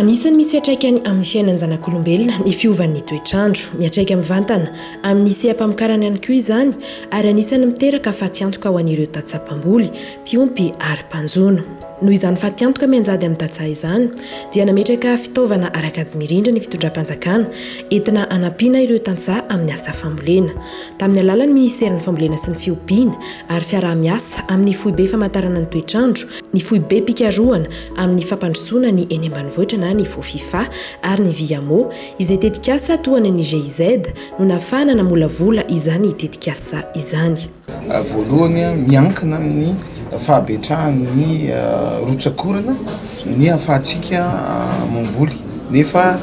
Anisan'ny misy fiatraikany amin'ny fiainan-janak'olombelona ny fiovan'ny toetr'andro. Miatraika mivantana amin'ny seha-pamokarana ihany koa izany ary anisan'ny miteraka fatiantoka ho an'ireo tantsaha mpamboly, mpiompy ary mpanjono. Noho izany fatiantoka mianjady amin'ny tantsaha izany, dia nametraka fitaovana ara-kajy mirindra ny fitondram-panjakana, entina hanampiana ireo tantsaha amin'ny asa fambolena. Tamin'ny alalan'ny minisiteran'ny Fambolena sy ny Fiompiana ary fiaraha-miasa amin'ny Foibe Famantarana ny Toetrandro, ny Foibem-pikarohana amin'ny Fampandrosoana ny eny Ambanivohitra na ny Fofifa ary ny Viamo, izay tetikasa tohanan'ny GIZ, no nahafahana namolavola izany tetikasa izany. Voalohany, miankina amin'ny fahabetrahan'ny rotsak'orana ny hahafahantsika mamboly. Nefa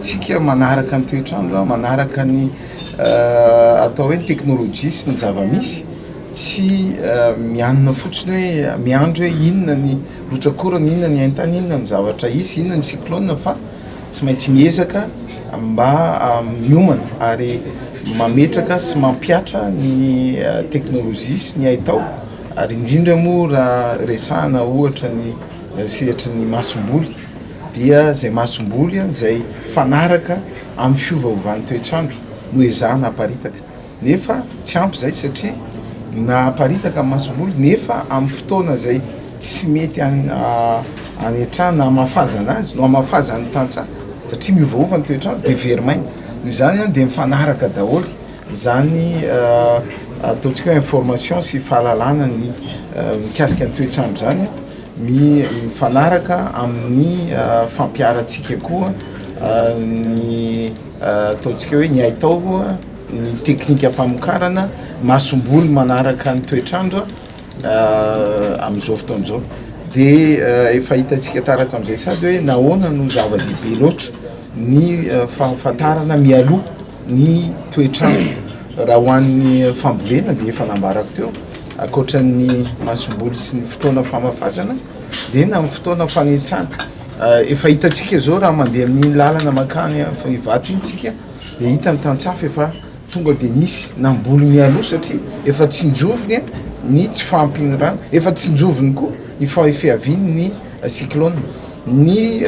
tsika manaraka ny toetr'andro, manaraka ny atao hoe ny teknolojia sy ny zava-misy, tsy mianona fotsiny hoe miandry hoe inona ny rotsak'orana, inona ny haintany, inona ny zavatra hisy, inona ny cyclone fa Tsy maintsy miezaka mba miomana ary mametraka sy mampihatra ny teknolojia sy ny haitao ary indrindra moa raha resahana ohatra ny sehatry ny masomboly dia izay masomboly izay fanaraka amin'ny fiovaovan'ny toetr'andro no ezahana haparitaka. nefa tsy ampy izay satria na aparitaka ny masomboly nefa amin'ny fotoana izay tsy mety hanetrahana na hamafazana azy no hamafazan'ny tantsaha satria miovaova ny toetr'andro dia very maina. Noho izany izany dia mifanaraka daholo izany ataontsika hoe information sy fahalalana ny mikasika ny toetr'andro izany mifanaraka amin'ny fampiharantsika koa ny ataontsika hoe ny haitao ny teknikam-pamokarana masomboly manaraka ny toetr'andro amin'izao fotoana izao dia efa hitantsika taratra amin'izay sady hoe nahoana no zava-dehibe loatra ny fahafantarana mialoha ny toetr'andro raha ho an'ny fambolena dia efa nambarako teo ankoatran'ny masomboly sy ny fotoana famafazana dia na amin'ny fotoana fanentsana efa hitantsika izao raha mandeha amin'iny lalana makany Ivato iny tsika Dia hita ny tantsaha fa efa tonga dia nisy namboly mialoha satria efa tsinjoviny ny tsy fahampian'ny rano, efa tsinjoviny koa ny fihavian'ny cyclone. Ny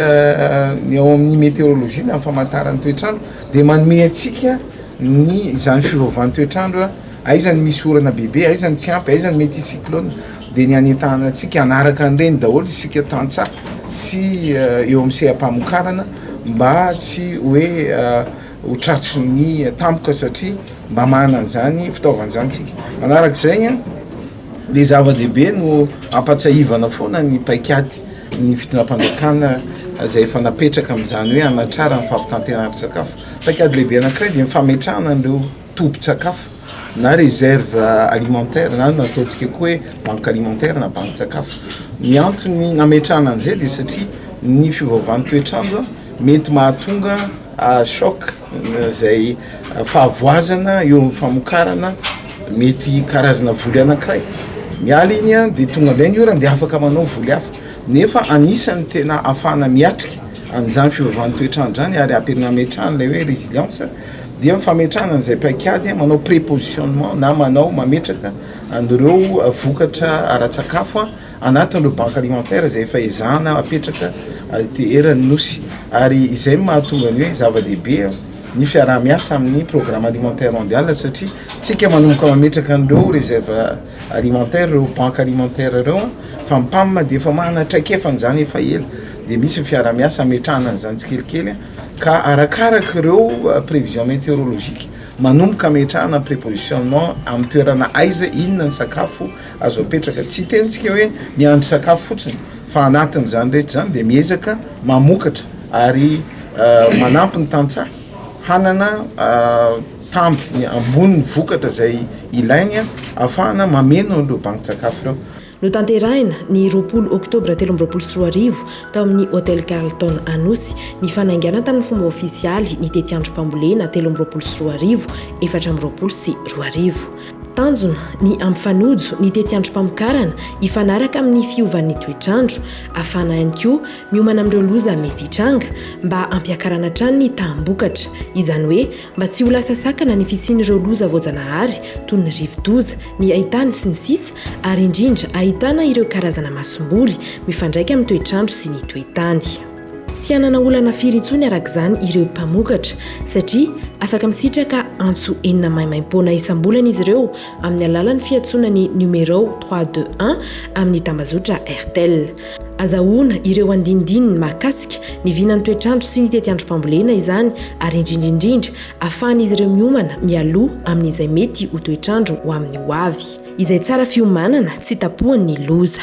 ny ao amin'ny meteorologie na ny famantaran'ny toetr'andro dia manome antsika ny izany fiovaovan'ny toetr'andro, aiza ny misy orana bebe, aiza ny tsy ampy, aiza ny mety hisy cyclone dia ny hanentanana antsika hanaraka an'ireny daholo isika tantsaha sy eo amin'ny seha-pamokarana. mba tsy hoe ho tratry ny tampoka satria mba manana an'izany fitaovana izany tsika. Manaraka izay an, dia zava-dehibe no ampatsahivana foana ny paikady ny fitondram-panjakana izay efa napetraka amin'izany hoe hanatrarana ny fampitanterana ara-tsakafo. Paikady lehibe anankiray dia ny fametrahana an'ireo. tobin-tsakafo na réserve alimentaire na ny ataontsika koa hoe banque alimentaire na bankin-tsakafo. Ny antony nametrahana an'izay dia satria ny fiovaovan'ny toetr'andro mety mahatonga choc izay fahavoazana eo amin'ny famokarana mety karazana voly anankiray. Miala iny an dia tonga indray ny orana dia afaka manao voly hafa. Nefa anisan'ny tena ahafahana miatrika an'izany fiovaovan'ny toetr'andro izany ary ampian'ny nametrahana ilay hoe résilience. dia ny fametrahana an'izay paikady manao prépositionnement na manao mametraka an'ireo vokatra ara-tsakafo anatin'ireo banques alimentaires izay efa ezahana hapetraka aty eran'ny Nosy ary izay no mahatonga ny hoe zava-dehibe ny fiaraha-miasa amin'ny programme alimentaire mondial satria tsika manomboka mametraka an'ireo réserve alimentaire ireo banques alimentaires ireo fa ny PAM dia efa manana traikefany izany efa ela dia misy ny fiaraha-miasa hametrahana an'izany tsikelikely Ka arakaraka ireo prévision météorologique, manomboka ametrahana prépositionnement amin'ny toerana aiza, inona ny sakafo azo apetraka. Tsy hiteny tsika hoe miandry sakafo fotsiny fa anatin'izany rehetra izany dia miezaka mamokatra ary manampy ny tantsaha hanana tambiny ambony vokatra izay ilainy ahafahana mameno an'ireo bankin-tsakafo ireo. Notanterahina, ny roapolo oktobra telo amby roapolo sy roa arivo, tao amin'ny Hotel Carlton Anosy, ny fanaingana tamin'ny fomba ofisialy ny tetiandrom-pambolena telo amby roapolo sy roa arivo, efatra amby roapolo sy roa arivo. Tanjona, ny hampifanojo ny tetiandrom-pamokarana hifanaraka amin'ny fiovan'ny toetr'andro, hahafahana ihany koa miomana amin'ireo loza mety hitranga, mba hampiakarana hatrany ny taham-bokatra, izany hoe mba tsy ho lasa sakana ny fisian'ireo loza voajanahary toy ny rivodoza, ny haitany sy ny sisa ary indrindra ahitana ireo karazana masomboly mifandraika amin'ny toetr'andro sy ny toe-tany. Tsy hanana olana firy intsony araka izany ireo mpamokatra satria afaka misitraka antso enina maimaimpoana isam-bolana izy ireo amin'ny alalan'ny fiantsoana ny numéro trois deux un amin'ny tambazotra Airtel. Azahoana ireo andinindininy mahakasika ny vinan'ny toetr'andro sy ny tetiandrom-pambolena izany ary indrindra indrindra ahafahan'izy ireo miomana mialoha amin'izay mety ho toetr'andro ho amin'ny ho avy izay tsara fiomanana tsy tapohan'ny loza.